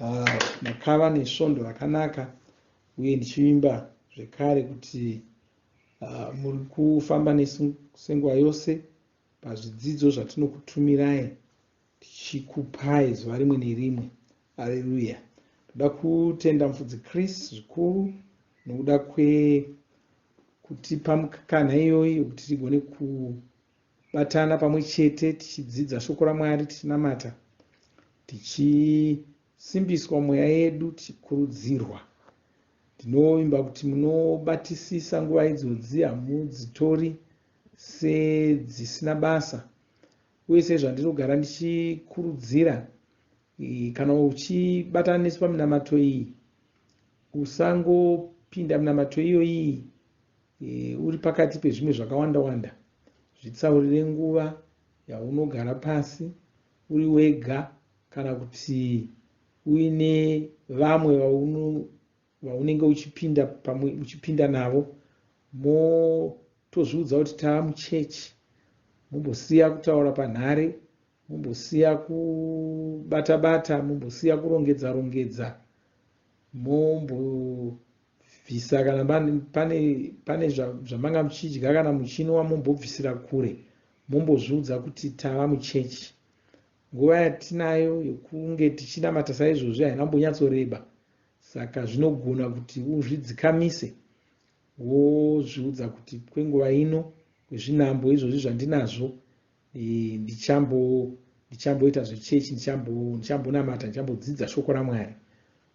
Ah, makava nesvondo rakanaka uye ndichivimba zvekare kuti ah, muri kufamba nesu senguva yose pazvidzidzo zvatinokutumirai tichikupai zuva rimwe nerimwe areruya ndoda kutenda mufudzi chris zvikuru nokuda kwekutipa mukana iyoyi yokuti tigone ku Batana pamwe chete tichidzidza shoko raMwari, tichinamata, tichisimbiswa mweya yedu, tichikurudzirwa. Ndinovimba kuti munobatisisa nguva idzodzi, hamudzitori sedzisina basa. Uye sezvandirogara ndichikurudzira, eh, kana uchibatana nesu paminamato iyi, usangopinda minamato iyoyi E, uri pakati pezvimwe zvakawanda wanda, zvitsaurire nguva yaunogara pasi uri wega kana kuti uine vamwe vaunenge uchipinda pamwe uchipinda navo motozviudza kuti tava muchechi mumbosiya kutaura panhare mumbosiya kubata bata mumbosiya kurongedza rongedza mombo bvisa kana pane, pane zvamanga muchidya kana muchinwa mombobvisira kure mombozviudza kuti tava muchechi nguva yatinayo yekunge tichinamata saizvozvi haina kumbonyatsoreba saka zvinogona kuti uzvidzikamise wozviudza kuti kwenguva ino kwezvinambo izvozvi zvandinazvo eh, ndichambo ndichamboita zvechechi ndichambonamata ndichambodzidza shoko ramwari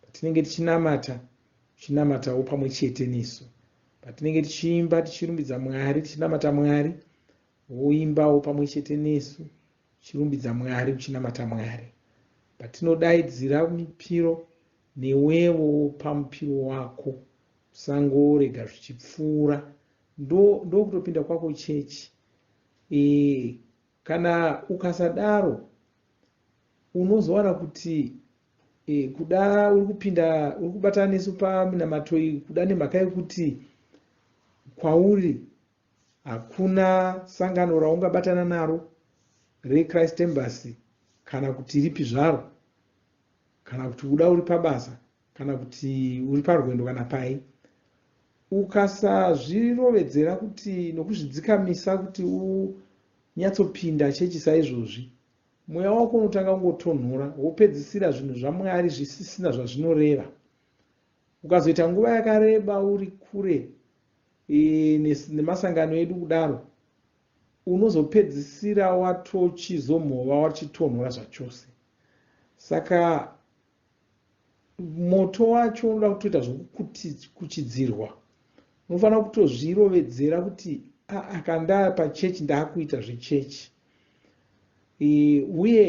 patinenge tichinamata tichinamatawo pamwe chete nesu patinenge tichiimba tichirumbidza mwari tichinamata mwari woimbawo pamwe chete nesu uchirumbidza mwari uchinamata mwari patinodaidzira mipiro newevo pamupiro wako usangorega zvichipfuura ndokutopinda kwako chechi Eeh kana ukasadaro unozowana kuti eh, kuda uri kupinda uri kubatana nesu paminamato iyi kuda nemhaka yekuti kwauri hakuna sangano raungabatana naro rechrist embassy kana kuti ripi zvaro kana kuti kuda uri pabasa kana kuti uri parwendo kana pai ukasazvirovedzera kuti nokuzvidzikamisa kuti unyatsopinda chechi saizvozvi mweya wako unotanga kungotonhora wopedzisira zvinhu zvamwari zvisisina zvazvinoreva ukazoita nguva yakareba uri kure e, nemasangano edu kudaro unozopedzisira watochizomhova wachitonhora zvachose saka moto wacho unoda kutoita zvekukuchidzirwa unofanira kutozvirovedzera kuti aa kandaa pachechi ndaakuita zvechechi e, uye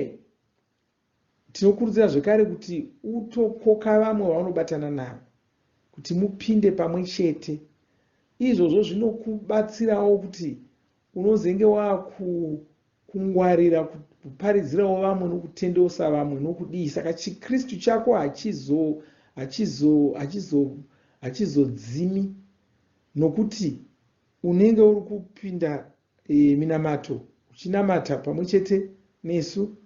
tinokurudzira zvekare kuti utokoka vamwe vaunobatana navo kuti mupinde pamwe chete izvozvo zvinokubatsirawo kuti Unozenge waakukungwarira kuparidzirawo vamwe nokutendeusa vamwe nokudii saka chiKristu chako hachizo hachizo hachizo hachizodzimi nokuti unenge uri kupinda e, minamato uchinamata pamwe chete nesu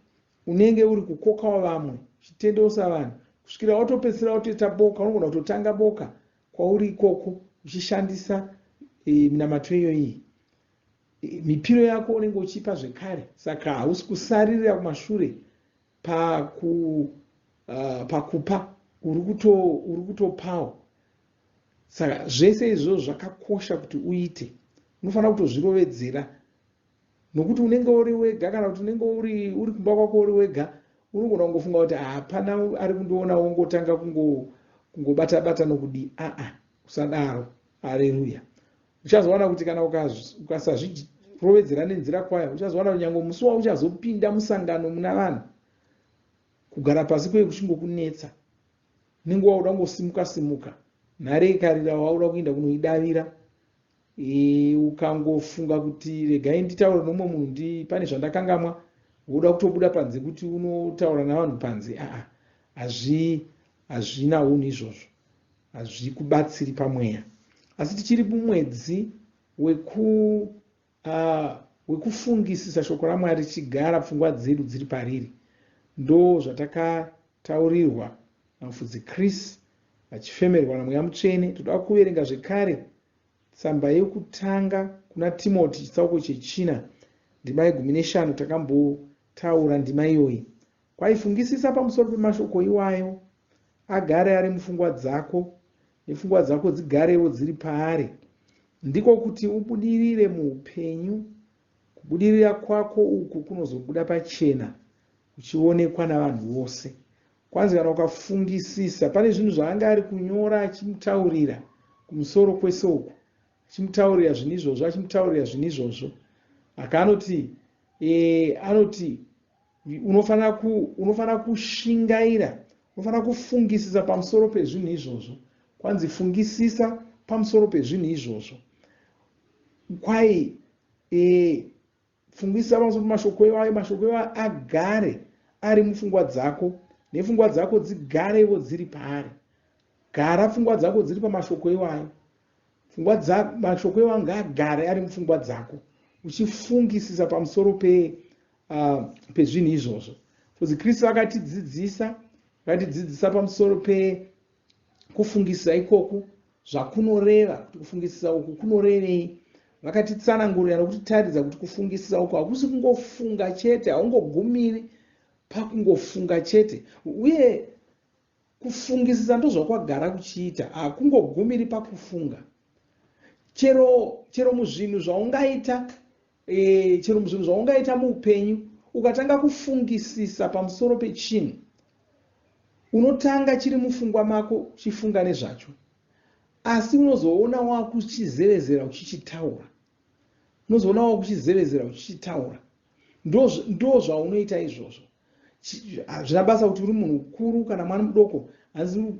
unenge uri kukokawo vamwe uchitendeusa vanhu kusvikira watopedzisira watoita boka unogona kutotanga boka kwauri ikoko uchishandisa e, minamato iyoyi mipiro yako unenge uchipa zvekare saka hausi kusaririra kumashure paku uh, pakupa uri kutopawo saka zvese izvozvo zvakakosha kuti uite unofanira kuto zvirovedzera nokuti unenge uri wega kana kuti unenge uri uri kumba kwako uri wega unogona kungofunga kuti hapana ari kundiona wongotanga kungobata bata nokudii aa usadaro aleluya uchazowana kuti kana ukasazvirovedzera nenzira kwayo uchazowana kuti nyange musi wauchazopinda musangano muna vanhu kugara pasi kweye kuchingokunetsa unenge wauda kungosimuka simuka nhare ikarira wauda kuenda kunoidavira Eh, ukangofunga kuti regai nditaure nomwe munhu ndi pane zvandakangamwa woda kutobuda panze kuti unotaura navanhu panze aa hazvi hazvina unhu izvozvo hazvikubatsiri pamweya asi tichiri mumwedzi weku uh, wekufungisisa shoko ramwari tichigara pfungwa dzedu dziri pariri ndo zvatakataurirwa namufudzi chris vachifemerwa naMweya Mutsvene. Toda kuverenga zvekare tsamba yekutanga kuna Timoti chitsauko chechina ndima yegumi neshanu. Takambotaura ndima iyoyi kwai. Fungisisa pamusoro pemashoko iwayo, agare ari mufungwa dzako nepfungwa dzako dzigarewo dziri paari, ndiko kuti ubudirire muupenyu. Kubudirira kwako uku kunozobuda pachena uchionekwa navanhu vose kwanzi kana ukafungisisa pane zvinhu zvaanga ari kunyora achimutaurira kumusoro kwese uku achimutaurira zvinhu izvozvo achimutaurira zvinhu izvozvo aka anoti e, anoti unofanira ku, unofanira kushingaira unofanira kufungisisa pamusoro pezvinhu izvozvo kwanzi fungisisa pamusoro pezvinhu izvozvo kwai e, Pfungisa pamusoro pemashoko iwayo. Mashoko iwayo agare ari mupfungwa dzako nepfungwa dzako dzigarevo dziri paari. Gara pfungwa dzako dziri pamashoko iwayo. Pfungwa dzako, mashoko iwayo ngaagare ari mupfungwa dzako uchifungisisa pamusoro pe, uh, pezvinhu izvozvo. Fuzi Kristu vakatidzidzisa vakatidzidzisa pamusoro pe kufungisisa ikoku zvakunoreva, kuti kufungisisa uku kunorevei. Vakatitsanangurira nokutitaridza kuti kufungisisa uku hakusi kungofunga chete, haungogumiri pakungofunga chete, uye kufungisisa ndozvakwagara kuchiita, hakungogumiri pakufunga chero, chero muzvinhu zvaungaita Ehe, chero muzvinhu zvaungaita muupenyu, ukatanga kufungisisa pamusoro pechinhu, unotanga chiri mufungwa mako uchifunga nezvacho, asi unozoona wakuchizevezera uchichitaura. Unozoona wakuchizevezera uchichitaura. Ndo zvaunoita izvozvo. Hazvina basa kuti uri munhu mukuru kana mwana mudoko, hanzi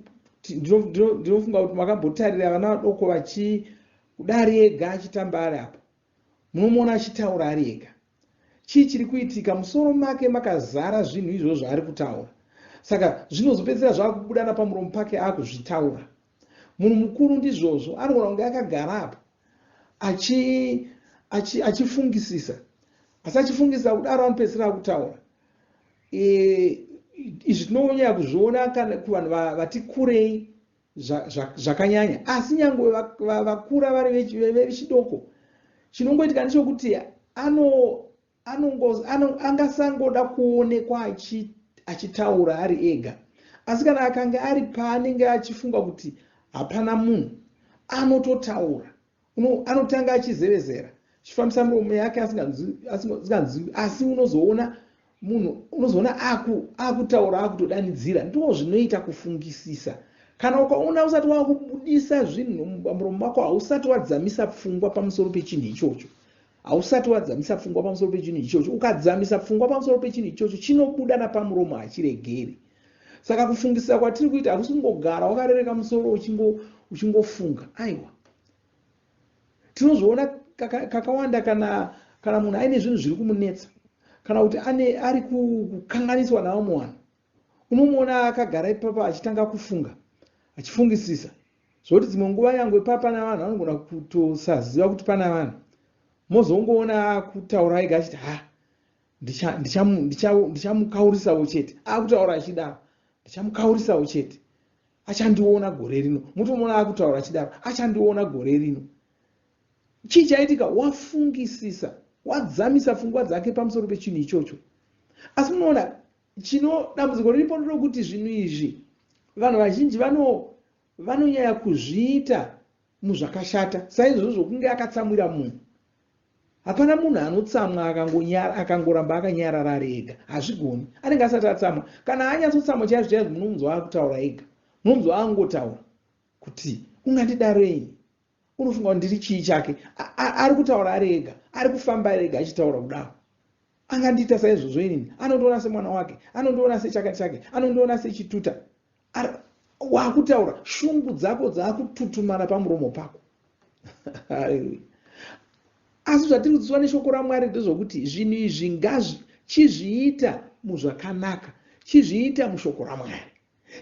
ndinofunga kuti makambotarira vana vadoko vachi kudari ega achitamba ari apo Munomuona achitaura ari ega. Chii chiri kuitika? Musoro make makazara zvinhu izvozvo zvaari kutaura. Saka zvinozopedzisira zvava kubuda napamuromo pake ava kuzvitaura. Munhu mukuru ndizvozvo, anogona kunge akagara apo achifungisisa achi, achi asi achifungisisa kudaro anopedzisira akutaura. E, izvi tinonyaya kuzviona kana kuvanhu vati kurei zvakanyanya asi nyangwe vakura vari vechidoko chinongoitika ndechokuti angasangoda kuonekwa achitaura ari ega asi kana akange ari paanenge achifunga kuti hapana munhu anototaura uno anotanga achizevezera chifambisa muromo yake asinganzwi asi unozoona munhu unozoona aku akutaura akutodanidzira ndoo zvinoita kufungisisa kana ukaona usati wakubudisa zvinhu muromo wako hausati wadzamisa pfungwa pamusoro pechinhu ichocho Hausati wadzamisa pfungwa pamusoro pechinhu ichocho. Ukadzamisa pfungwa pamusoro pechinhu ichocho, chinobuda napamuromo, hachiregeri. Saka kufungisisa kwatiri kuita hakusi kungogara wakarereka musoro uchingofunga, aiwa. Tinozviona kakawanda kana, kana munhu aine zvinhu zviri kumunetsa kana kuti ane, ari kukanganiswa navamwe vanhu. Unomuona akagara ipapa achitanga kufunga, achifungisisa. Zvoti dzimwe nguva nyangwe papana vanhu anogona kutosaziva kuti pana vanhu. Mozongoona akutaura ega achiti ha ndichamukaurisawo ndicha, ndicha chete. Akutaura achidaro ndichamukaurisawo chete. Achandiona gore rino. Mutomuona akutaura achidaro achandiona gore rino. Chii chaitika? Wafungisisa, wadzamisa fungwa dzake pamusoro pechinhu ichocho. Asi munoona Chino dambudziko riripo nderokuti zvinhu izvi vanhu vazhinji vano vanonyaya kuzviita muzvakashata saizvozvo zvokunge akatsamwira munhu. Hapana munhu anotsamwa akangonyara akangoramba akanyarara ari ega. Hazvigoni. Anenge asati atsamwa. Kana anyatsotsamwa chaizvo chaizvo munomunzwa akutaura ega. Munomunzwa angotaura kuti ungandidarei unofunga kuti ndiri chii chake ari kutaura ari ega ari kufamba ari ega achitaura kudaro angandiita saizvozvo inini anondiona semwana wake anondiona sechakati chake anondiona sechituta wakutaura shungu dzako dzaakututumana pamuromo pako asi zvatiri kudzidzwa neshoko ramwari ndezvokuti zvinhu izvi ngazvi chizviita muzvakanaka chizviita mushoko ramwari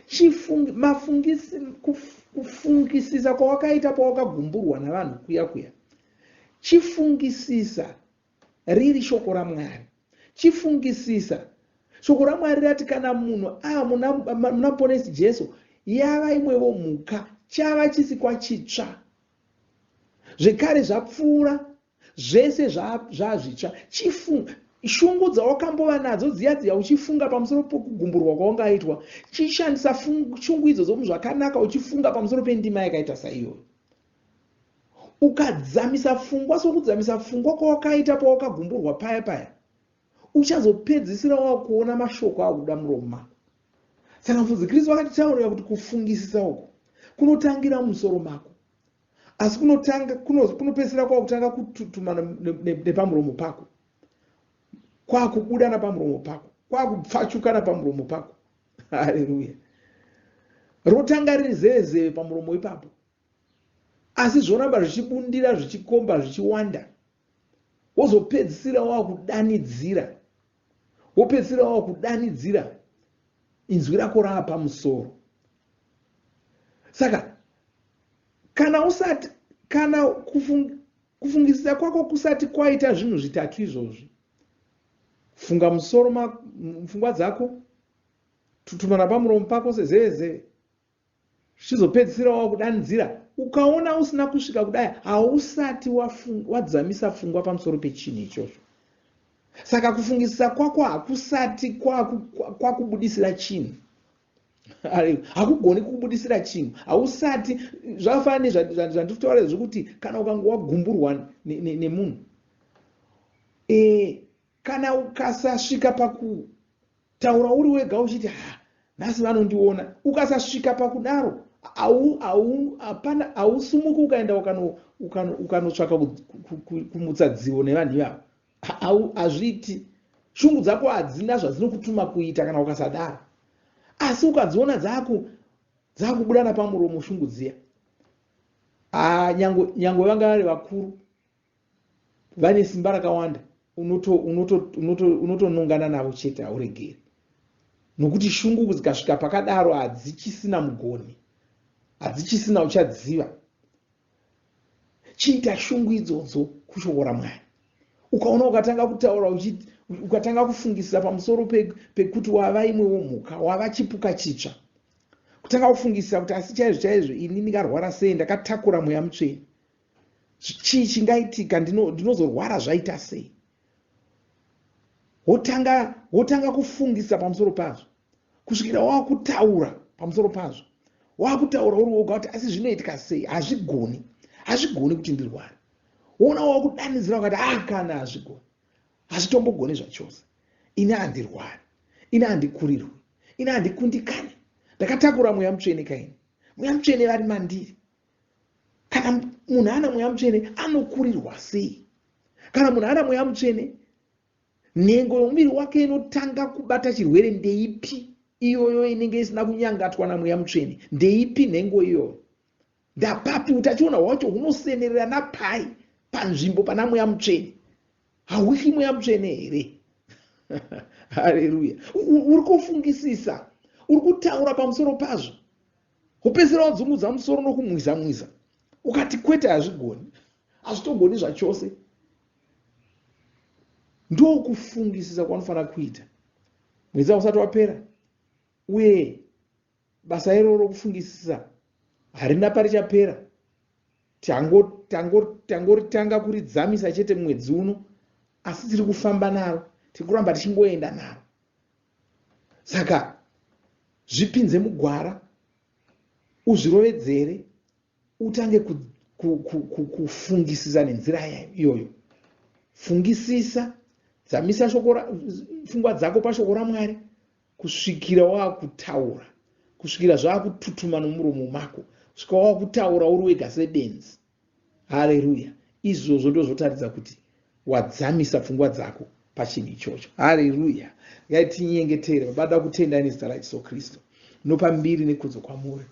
Chifungi, mafungisi, kuf, kufungisisa kwawakaita pawakagumburwa navanhu kuya kuya chifungisisa riri shoko ramwari chifungisisa shoko ramwari rati kana munhu aa muna ponesi jesu yava imwevo mhuka chava chisikwa chitsva zvekare zvapfuura Zvese zvaazvitsva. Chifunga shungu dzawakambova nadzo dziya dziya uchifunga pamusoro pokugumburwa kwawangaitwa. Chishandisa shungu idzodzo muzvakanaka uchifunga pamusoro pendima yakaita saiyoyo. Ukadzamisa pfungwa sokudzamisa pfungwa kwawakaita pawakagumburwa paya paya, uchazopedzisira wakuona mashoko akubuda muromo mako. Saka mfudzi Kristu vakatitaurira kuti kufungisisa uku kunotangira mumusoro mako. asi kunotanga kunopedzisira kwakutanga kututuma nepamuromo pako kwakubuda napamuromo pako kwakupfachuka napamuromo pako haleluya rotanga riri zeezeve pamuromo ipapo asi zvoramba zvichibundira zvichikomba zvichiwanda wozopedzisira wakudanidzira wopedzisira wakudanidzira inzwi rako rava pamusoro saka kana usati kana kufung, kufungisisa kwako kusati kwaita zvinhu zvitatu izvozvi funga musoro mupfungwa dzako tutumana pamuromo pako sezevezeve zvichizopedzisira wava kudanidzira ukaona usina kusvika kudai hausati wadzamisa fungwa pamusoro pechinhu ichocho saka kufungisisa kwako hakusati kwakubudisira chinhu hakugoni kukubudisira chinhu hausati zvakafanana nezvandiri kutaura zvekuti kana ukange wagumburwa nemunhu e, kana ukasasvika paku Taura uri wega uchiti ha nhasi vanondiona. Ukasasvika pakudaro hapana hausumuki ukaenda ukanotsvaka kumutsa dzivo nevanhu ivavo. Hazviiti. Shungu dzako hadzina zvadzinokutuma kuita kana ukasadaro. Asi ukadziona dzaku dzakubuda napamuromo shungu dziya. Ah, nyangwe nyangwe vanga vari vakuru vane simba rakawanda unotonongana navo chete hauregeri nokuti shungu dzikasvika pakadaro hadzichisina mugoni hadzichisina uchadziva chiita shungu idzodzo kushoko ramwari ukaona ukatanga kutaura uchiti ukatanga kufungisisa pamusoro pekuti wava imwewo mhuka wava chipuka chitsva kutanga kufungisisa kuti asi chaizvo chaizvo ini ndikarwara sei ndakatakura mweya mutsveni chii chingaitika ndinozorwara zvaita sei wotanga wotanga kufungisa pamusoro pazvo kusvikira wava kutaura pamusoro pazvo wava kutaura uri woga kuti asi zvinoitika sei hazvigoni hazvigoni kuti ndirware woona wava kudanidzira ukati a ah, kana hazvigoni hazvitombogoni zvachose ini handirwari ini handikurirwi ini handikundikani ndakatakura mweya mutsvene kaini mweya mutsvene vari mandiri kana munhu ana mweya mutsvene anokurirwa sei kana munhu ana mweya mutsvene nhengo yomuviri wake inotanga kubata chirwere ndeipi iyoyo inenge isina kunyangatwa namweya mutsvene ndeipi nhengo iyoyo ndapapi utachiona hwacho hunosenerera napai panzvimbo pana mweya mutsvene hauhli mweya mutsvene here hareruya uri kufungisisa uri kutaura pamusoro pazvo wopedzisira wadzungudza musoro nokumwiza mwiza ukati kwete hazvigoni hazvitogoni zvachose ndokufungisisa kwanofanira kuita mwedzi ausati wapera uye basa iroro rokufungisisa harina parichapera tangoritanga kuridzamisa chete mwedzi uno asi tiri kufamba naro tiri kuramba tichingoenda naro saka zvipinze mugwara uzvirovedzere utange kufungisisa nenzira iyoyo fungisisa dzamisa pfungwa dzako pashoko ramwari kusvikira wakutaura kusvikira zvakututuma nomuromo mako svika wakutaura uri wega sebenzi Haleruya! Izvozvo ndozvotaridza kuti wadzamisa pfungwa dzako pachinhu ichocho. Haleruya! Ngai tinyengetere. Baba, ndoda kutendai nezita raJesu Kristu. Nopa mbiri nekudzo kwamuri.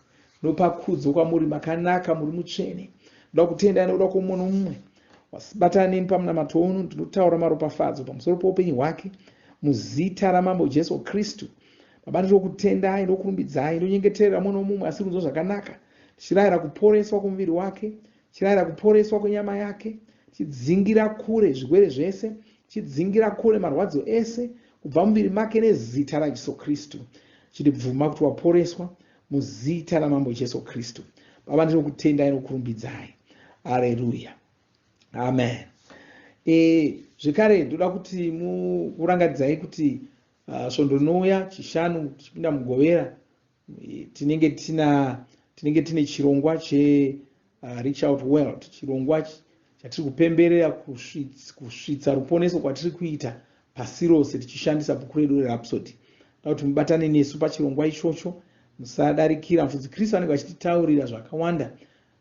Nopa kudzo kwamuri makanaka, muri mutsvene. Ndoda kutendai nokuda kwoumwe noumwe wasibatana nemi pamunamato uno. Ndinotaura maropafadzo pamusoro poupenyu hwake muzita ramambo Jesu Kristu. Baba, ndinokutendai, ndokurumbidzai, ndonyengeterera umwe nomumwe asiri kunzwa zvakanaka. tichirayira kuporeswa kwomuviri wake, tichirayira kuporeswa kwenyama yake, tichidzingira kure zvirwere zvese, tichidzingira kure marwadzo ese kubva muviri make nezita raJesu Kristu. Chiti bvuma kuti waporeswa muzita raMambo Jesu Kristu. Baba, ndinokutendai nokurumbidzai. Aleluya. Amen. E, zvekare ndoda kuti mukurangadzai kuti uh, svondo rinouya chishanu tichipinda mugovera tinenge tina tinenge tine chirongwa che uh, reach out world chirongwa chatiri kupemberera kusvitsa ruponeso kwatiri kuita pasi rose tichishandisa bhuku redu rerapsody da kuti mubatane nesu pachirongwa ichocho musadarikira mfudzi kristu anenge achititaurira zvakawanda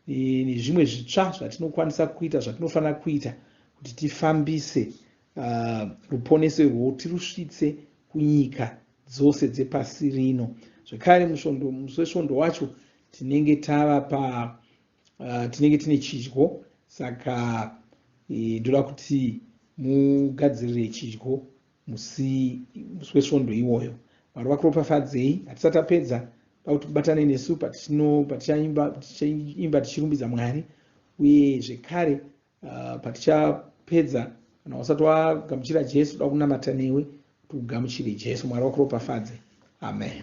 e, nezvimwe zvitsva zvatinokwanisa kuita zvatinofanira kuita kuti tifambise uh, ruponeso irwo tirusvitse kunyika dzose dzepasi rino. Zvekare musvondo musi wesvondo wacho tinenge tava pa uh, tinenge tine chidyo saka e, ndoda kuti mugadzirire chidyo musi musi wesvondo iwoyo. Mwari vakuropafadzei. Hatisati tapedza kuti batane nesu patichaimba tichirumbidza Mwari uye zvekare uh, patichapedza kana usati wagamuchira jesu toda kunamata newe kuti ugamuchire jesu mwari wakuropafadze amen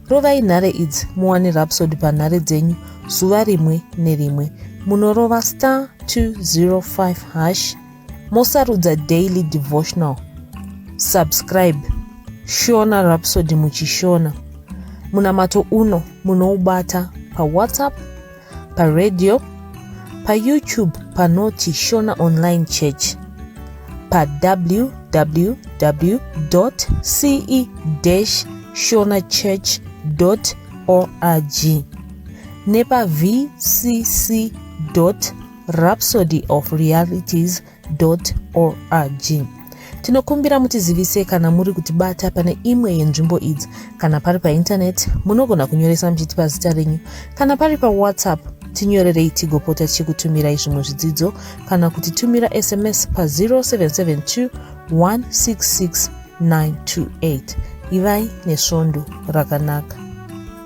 rovai nhare idzi muwane rapsod panhare dzenyu zuva rimwe nerimwe munorova star 205 hash mosarudza daily devotional subscribe shona rapsod muchishona munamato uno munoubata pawhatsapp paradio, paYoutube panoti Shona Online Church, pawww.ce-shonachurch.org nepaVCC.org. Rhapsody of Realities org tinokumbira mutizivise kana muri kutibata pane imwe yenzvimbo idzi kana pari paintaneti munogona kunyoresa muchiti pazita renyu kana pari pawhatsapp tinyorerei tigopota tichikutumirai zvimwe zvidzidzo kana kuti tumira sms pa 0772 166 928 ivai nesvondo rakanaka